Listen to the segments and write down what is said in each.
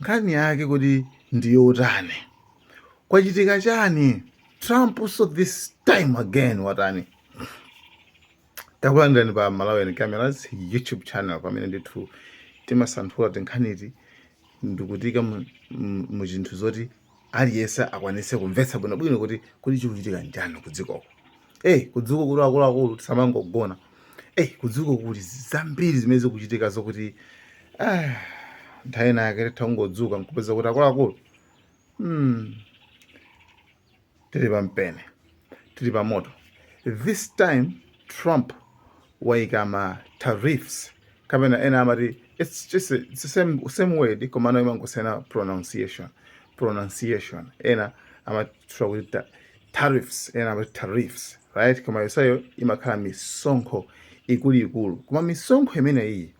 Nkhani yake kodi ndi yotani? Kwachitika chani? Trump so this time again watani? Takulandirani pa Malawian Cameras YouTube channel pamene ndithu timasanthula tinkhaniti ndikutiika mu zinthu zoti aliyense akwanise kumvetsa bwino bwino kuti kodi chikuchitika nchani kudzikoko ei kudziko kuti akuluakulu tisamangogona ei kudziko kuli zambiri zimene zikuchitika zokuti ah, nthawi inayake titha ungodzuka nkupeza kuti akuluakulu hmm, tili pa mpeni tili pa moto this time trump waika ma tariffs kapena ena amati it's just a, it's the same, same word komano imangosiyana pronunciation pronunciation ena amatchula kuti ta- tariffs ena amati tariffs right koma yonseyo imakhala misonkho ikuluikulu koma misonkho imeneyi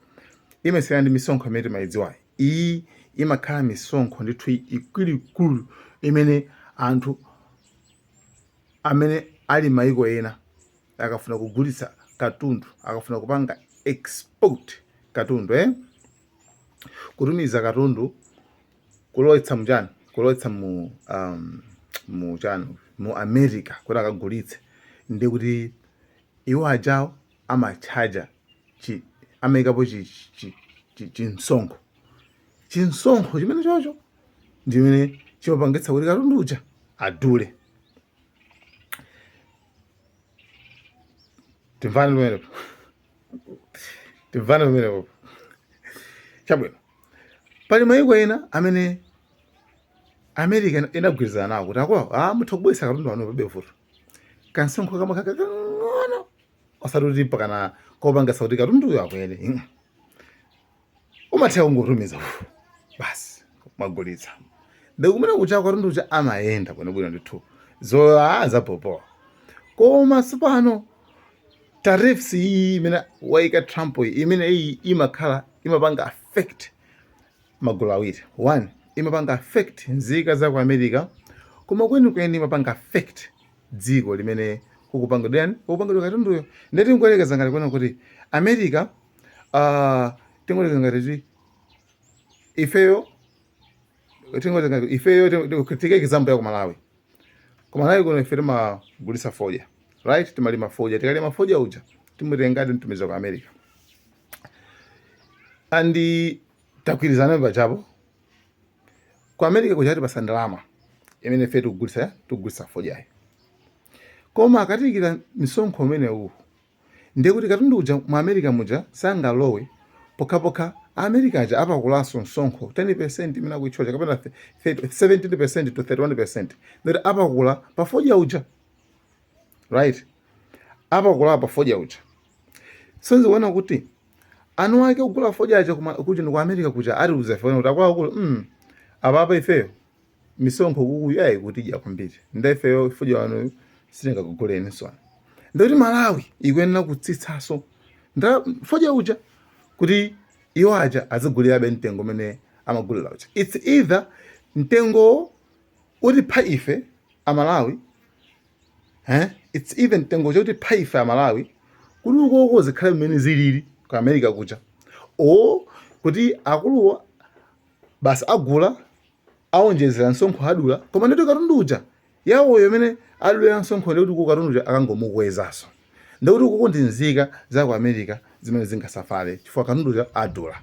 imasiyana ndi misonkho imene timayidziwayi Iyi imakhala misonkho ndithu ikuluikulu imene anthu amene ali maiko ena akafuna kugulitsa katundu, akafuna kupanga export katundu eh, kutumiza katundu kulowetsa mu chani, kulowetsa mu um, mu chani mu America kuti akagulitse, ndiye kuti iwo ajawo amatchaja chi amaikapo chi chi chi chimsonkho chimsonkho chimenechocho ndimene chimapangitsa kuti katundu uja adule timvane pamenepo timvane pamenepo chabwino pali mayiko ena amene america inagwirizana nawo kuti akwawo ah, mutha kubweretsa katundu wanu palibe vuto kansonkho kamakhala kakang'ono osati kuti mpakana kopangisa kuti katunduyo akwere mm. umatha kungotumiza ufu basi mwagulitsa nde kumene kuja katundu uja amayenda bwinobwino ndithu zoa zabobowa koma sipano tariffs iyi imene waika trump iyi imene iyi imakhala imapanga affect magulu awiri 1 imapanga affect nzika za ku America koma kwenikweni imapanga affect dziko limene kukupangidwa chani kukupangidwa katunduyo ndiye tingoyerekeza ngati kunena kuti America uh, tingoyerekeza ngati kuti ifeyo tingoyerekeza ngati ifeyo tiike example ya ku Malawi ku Malawi kuno ife timagulitsa fodya right timalima fodya tikalima fodya uja timutengadi nkutumiza ku America and tagwirizana pachapo ku america kuja atipasa ndalama imene ife tikugulitsa tikugulitsa fodyayo koma akatiikira misonkho umenewu ndiye kuti katundu uja mu america muja sangalowe pokhapokha america aja apakulanso msonkho 10 percent imene akuitchaja kapena 17 percent to 31 percent ndikuti apakula pa fodya uja right apakula pa fodya uja so mukuona kuti anuwake ogula fodya aja kuja ku america kuja atiuza ife kuti akuluakulu mm, apapa ifeyo misonkho kunoyi ayi ikutidya kwambiri nda ifeyo fodya wanuyu sitingakuguleni so ndikuti malawi ikuyenera kutsitsaso fodya uja kuti iwo aja azigulirabe mtengo umene amagulira uja it's either mtengowo utipha ife amalawi eh it's either mtengowo utipha ife amalawi kuti ukoko zikhale mmene zilili ku america kuja o kuti akuluwa basi agula aonjezera msonkho adula koma ndikuti katundu uja yawoyo imene adulira msonkho ndikuti ku katundu uja akangomukwezaso ndekuti ukoko ndi nzika za ku America zimene zingasafale chifukwa katunduyo adula.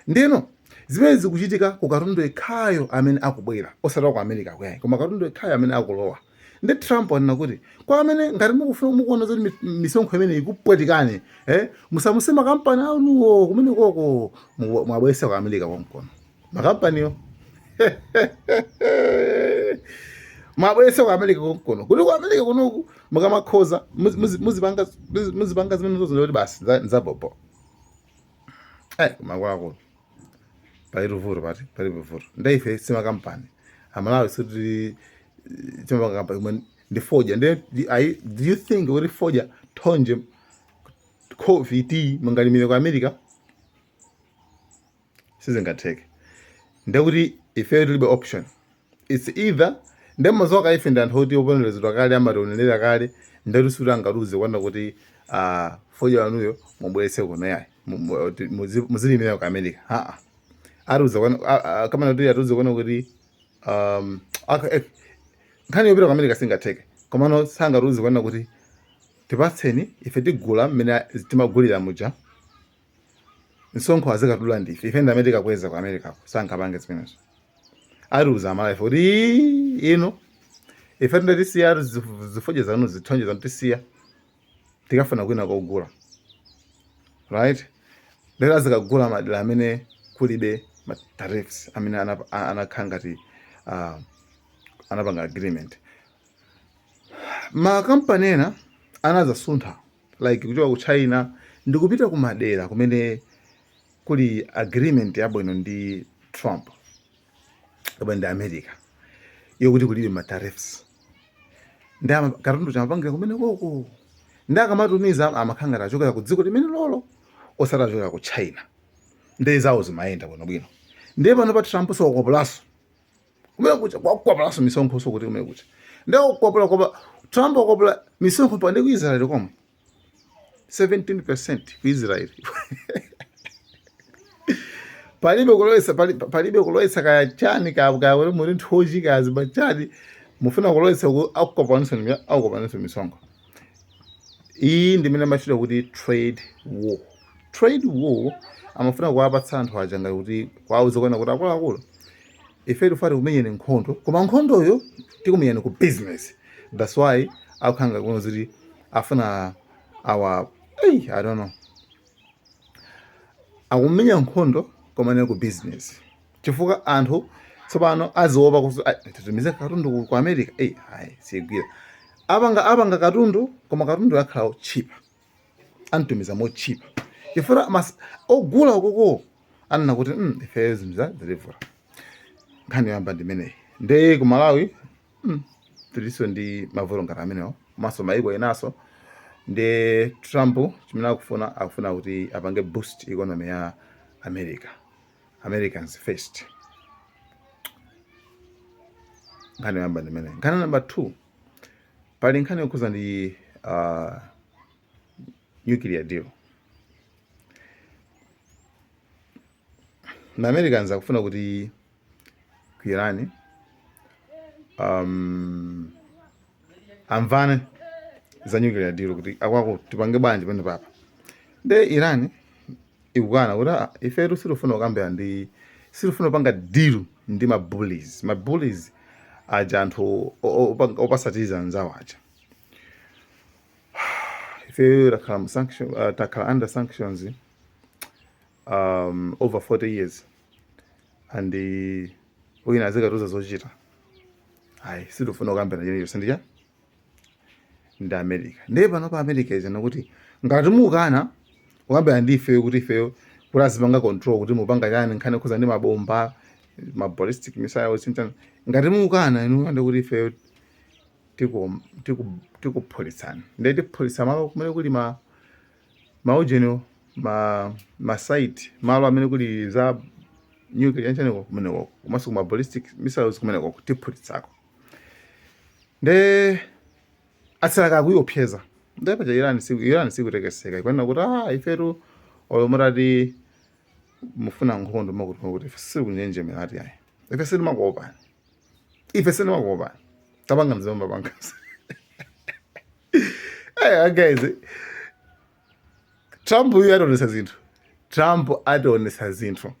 Ndiyeno zimenezi zikuchitika ku katundu yekhayo amene akubwera, osati wa ku Americako ayi, koma katundu yekhayo amene akulowa. Ndiye Trump wanena kuti kwa amene ngati mukufuna mukuona zoti mi- misonkho imene ikupwetikani eh, musamutse makampani anuwo kumenekoko mu- muwabweretse ku America konkono. makampaniwo muwabweretse ku america konkuno kuti ku america kunoku mukamakonza muzipanga zimene zozo ndikuti basi nzabobo eh, kumakwakuno pali tuvuto pati pali tuvuto ndeife simakampani amalawi sitili chimakampani ndi fodya nde do you think kuti fodya thonje coffee tea mungalimire ku america sizingatheke ndekuti ifeyo tilibe option it's either nde mazoka ife ndi anthu oti oponderezedwa kale amatiponderera kale ndetu sikuti angatiuze kunena kuti uh, fodya wanuyo mubweretse kuno yayi mu- mu- ti- muzi- muzilimira ku america aa atiuza kunena a- a- kamana kuti atiuze kunena kuti um, aka- eh, nkhani yopita ku america singatheke komano sangatiuze kunena kuti tipatseni ife tigula mmene timagulira muja msonkho azikadula ndife ife ndamene tikakweza ku america ko sangapange zimenezo atiuza amalawife kuti "Ii, ino ife tinde tisiya ati zif- zifodya zanu zithonje zanu tisiya tikafuna kwina kogula right lero azikagula madera amene kulibe ma tariffs amene anap- a- anakhala ngati ah, anapanga agreement makampani ena anazasuntha like kuchoka ku China ndikupita ku madera kumene kuli agreement yabwino ndi Trump kapena ndi America yokuti kulibe ma tariffs nde katundu uja amapangira kumenekoko nde akamatumiza amakhala ngati achokera ku dziko limenelolo osati achokera ku China nde zawo zimayenda bwinobwino ndiye panopa Trump wakwapulaso kumene kuja wakwapulanso misonkho so kuti kumene kuja ndiye wakwapula kwapula Trump wakwapula misonkho pa ndi ku Israel komwe 17% ku Israel palibe kulowesa palibe kulowesa kaya chani ka ka wale muri nthoji kaya chani mufuna kulowesa ku akukwapulaniso akukwapulaniso misonkho iyi ndimene imatchedwa kuti trade war Trade war amafuna kuwapatsa anthu aja ngati kuti kuwauza kunena kuti akuluakulu ife tikufuna tikumenyeni nkhondo koma nkhondoyo tikumenyani ku business that's why akukhala ngati kunena kuti afuna awa hey, i don't know akumenya nkhondo koma ndi ku business chifukwa anthu tsopano aziopa kuti titumize katundu ku america eyi ayi siyigwira apanga apanga katundu koma katunduyo akhala wotchipa amtumiza motchipa chifukwa ogula uko ko anena kuti "Mm, ifeyo zinthu za zilivula nkhani yoyamba ndimeneyi nde ku malawi mm, tilinso ndi mavuto ngati amenewo komanso maiko enaso nde trump chimene akufuna akufuna kuti apange boost economy ya america americans first nkhani yoyamba ndimeneyi nkhani namba two Pali nkhani yokhuza ndi uh, nuclear deal. Nde Americans akufuna kuti ku Iran um, amvane za nuclear deal kuti akuluakulu tipange bwanji panopapa. Nde Iran ikunena kuti ah, ifetu sitifuna kukambirana ndi sitifuna kupanga deal ndi ma bullies ma bullies aja anthu opanikiza anzawo aja ifeyo takhala mu sanction uh, takhala under sanctions um, over 40 years and uh, wina azikatiuza zochita ayi sitifuna kukambirana china chilichonse ndi uja ndi america ndiye panopa america ikunena kuti ngati mukana kukambirana ndi ifeyo kuti ifeyo tizipanga control kuti mupanga chani nkhani yokhuza ndi mabomba ma ballistic missiles chanichani ngati mukana inu nde kuti ifeyo tiku- tiku- tikuphulitsani ndiye tiphulitsa malo kumene kuli ma maujeni ma ma site malo amene kuli za nuclear chanichaniko kumeneko komanso kuma ballistic missiles kumeneko tiphulitsako nde atsala akuopseza nde paja Iran siku Iran sikutekeseka ikunena kuti ah ifetu olo mutati mufuna nkhondo makuti makuti ife sitikunjenjemera ati ayi ife sitimakuopani ife sitimakuopani tapanga mzimu mapangazi Hey, guys, Trump uyu ationesa zinthu. Trump ationesa zinthu.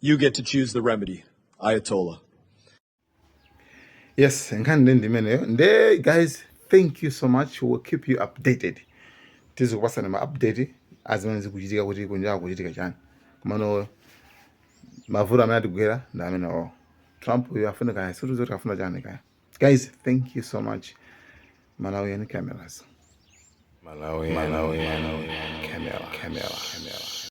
You get to choose the remedy, Ayatollah. Yes, nkhani nde ndi imeneyo. Nde guys, thank you so much. We'll keep you updated. Tizikupatsani ma update a zimene zikuchitika kuti kunja kuchitika chani. Komano mavuto amene atigwera ndi amenewo. Trump uyu afuna kaya situ zoti afuna chani kaya. Guys, thank you so much. Malawian cameras. Malawian, Malawian, Malawian camera, camera, camera.